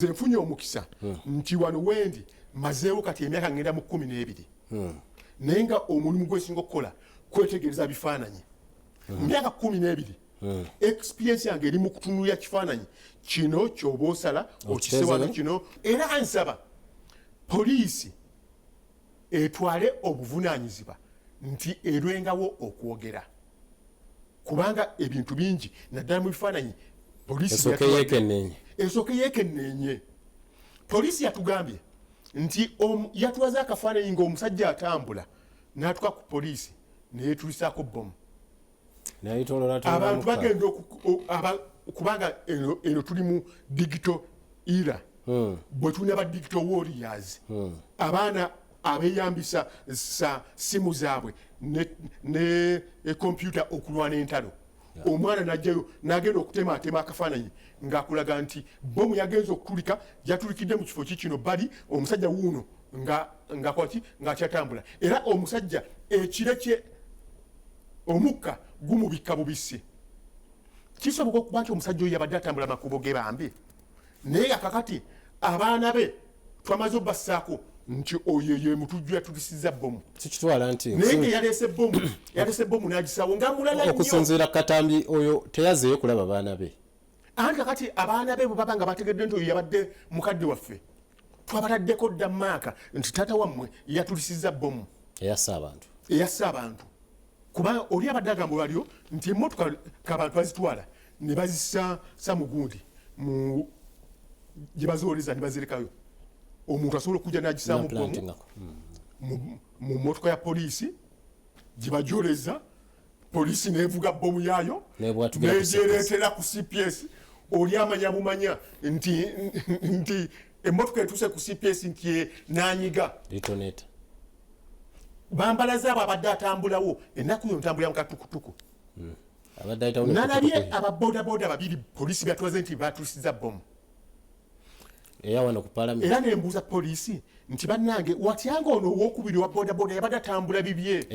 nze nfunye omukisa hmm. nti wano wendi mazeewo kati emyaka ngenda mu kumi n'ebiri hmm. naye nga omulimu gwesinga okukola kwetegereza bifaananyi hmm. myaka kumi n'ebiri experience yange eri mu kutunulira kifaananyi kino kyoba osala okisewano kino era ansaba poliisi etwale obuvunaanyizibwa nti erwengawo okwogera kubanga ebintu bingi naddala mu bifaananyi polisi esooke yeekenneenye polisi yatugambye nti yatwaze akafaananyi ng'omusajja atambula n'atuka ku polisi neyetulisaako bbomu abantu bagenda kubanga eno tuli mu digito era hmm. bwe tulina ba digito warriors hmm. abaana abeyambisa sa simu zaabwe ne, ne e kompyuta okulwana entalo omwana najjayo nagenda okutematema akafaananyi ng'akulaga nti bomu yagenza okukulika yatulikidde mu kifo ki kino bali omusajja wuuno ngakwaki ng'akyatambula era omusajja ekire kye omukka gumubikka bubisi kisoboka okuba nti omusajja oyo yabadde atambula makubo ge bambi naye akakati abaana be twamaze obassaako nti oyo ye mutujju yatulisiza bomu sikitwala nti naye nga yaleese bomu yaleese bomu n'agisaawo nga mulala nnyo okusinziira katambi oyo teyazeeyo kulaba baana be anti kakati abaana be bwe baba nga bategedde nti oyo yabadde mukadde waffe twabataddeko dda maaka nti taata wammwe yatulisiza bomu eyassa abantu eyassa abantu kuba oli abadde agamba walyo nti emotoka kabantu azitwala ne bazisa samugundi mu gye baziwoleza ne bazirekayo omuntu asobola okujja n'agisaamu bbomu hmm. mu motoka ya poliisi gye bajoleza poliisi nevuga bbomu yaayo negyereetera ku cps oli amanya bumanya nti nti emmotoka etuuse ku cps nti e, nanyiga bambalaze abo abadde atambulawo ennaku yo ntambulira mu katukutuku hmm. nalabye ababodaboda babiri polisi byatuwaze nti batusiza bomu era nembuuza polisi nti bannange watyanga ono owokubiri wa bodaboda yabadde atambula bibye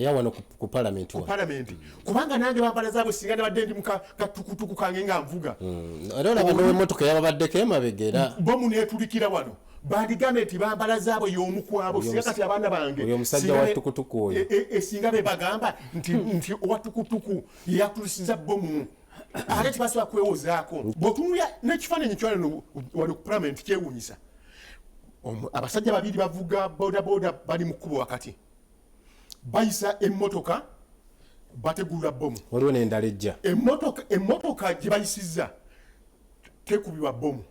ku palamenti kubanga nange bambala zaabwe singa nabadde ndi mukatukutuku kange nga nvuga mm. era olaba nowemotoka yababaddeko emabega era bomu netulikira wano bandigambe nti bambala zaabwe y'omu kwabo singa kati abaana bange oyo omusajja wa tukutuku oyo e, e, e, singa be bagamba nti nti owa tukutuku yeyatulisiza bomu ate tebasobola kwewozaako bwotunulya n'ekifaananyi kyalino wali ku palamenti kyewuunyisa abasajja babiri bavuga bodaboda bali mu kkubo wakati bayisa emmotoka bategulula bomu waliwo nendala ejja emmotoka gye bayisizza tekubibwa bomu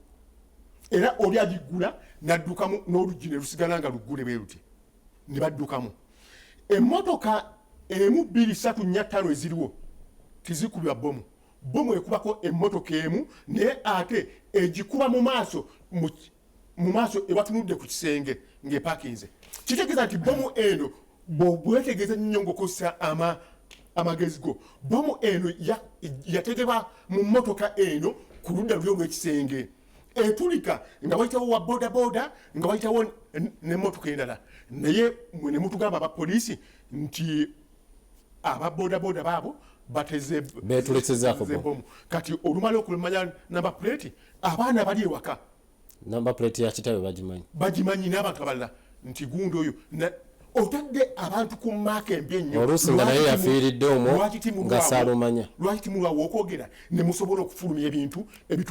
era oli agiggula n'addukamu n'oluggi ne lusigala nga luggule bwe luti ne baddukamu emmotoka emu bbiri satu nnya ttaano eziriwo tizikubibwa bomu bomu ekubako emmotoka emu naye ate egikuba mu maaso mu maaso ewatunudde ku kisenge ng'epakinze kitegeeza nti bomu eno bwobwetegeza nnyo ngaokozesa ama amagezi go bomu eno yategeba mu motoka eno ku ludda luli olwekisenge etulika nga wayitawo wa bodaboda nga wayitawo nemotoka endala naye mwe nemutugamba abapoliisi nti aba bodaboda baabo batezeetulesezaakobomu kati olumala okumanya namba puleti abaana bali ewaka namba plate ya kitawe bagimanyi bagimanyi n'abantu abalala nti gundi oyo otadde abantu ku maaka embi ennyoluusi nga naye yafiiridde omwo nga saalumanya lwaki timulwawo okwogera ne musobola okufulumya ebintu ebitu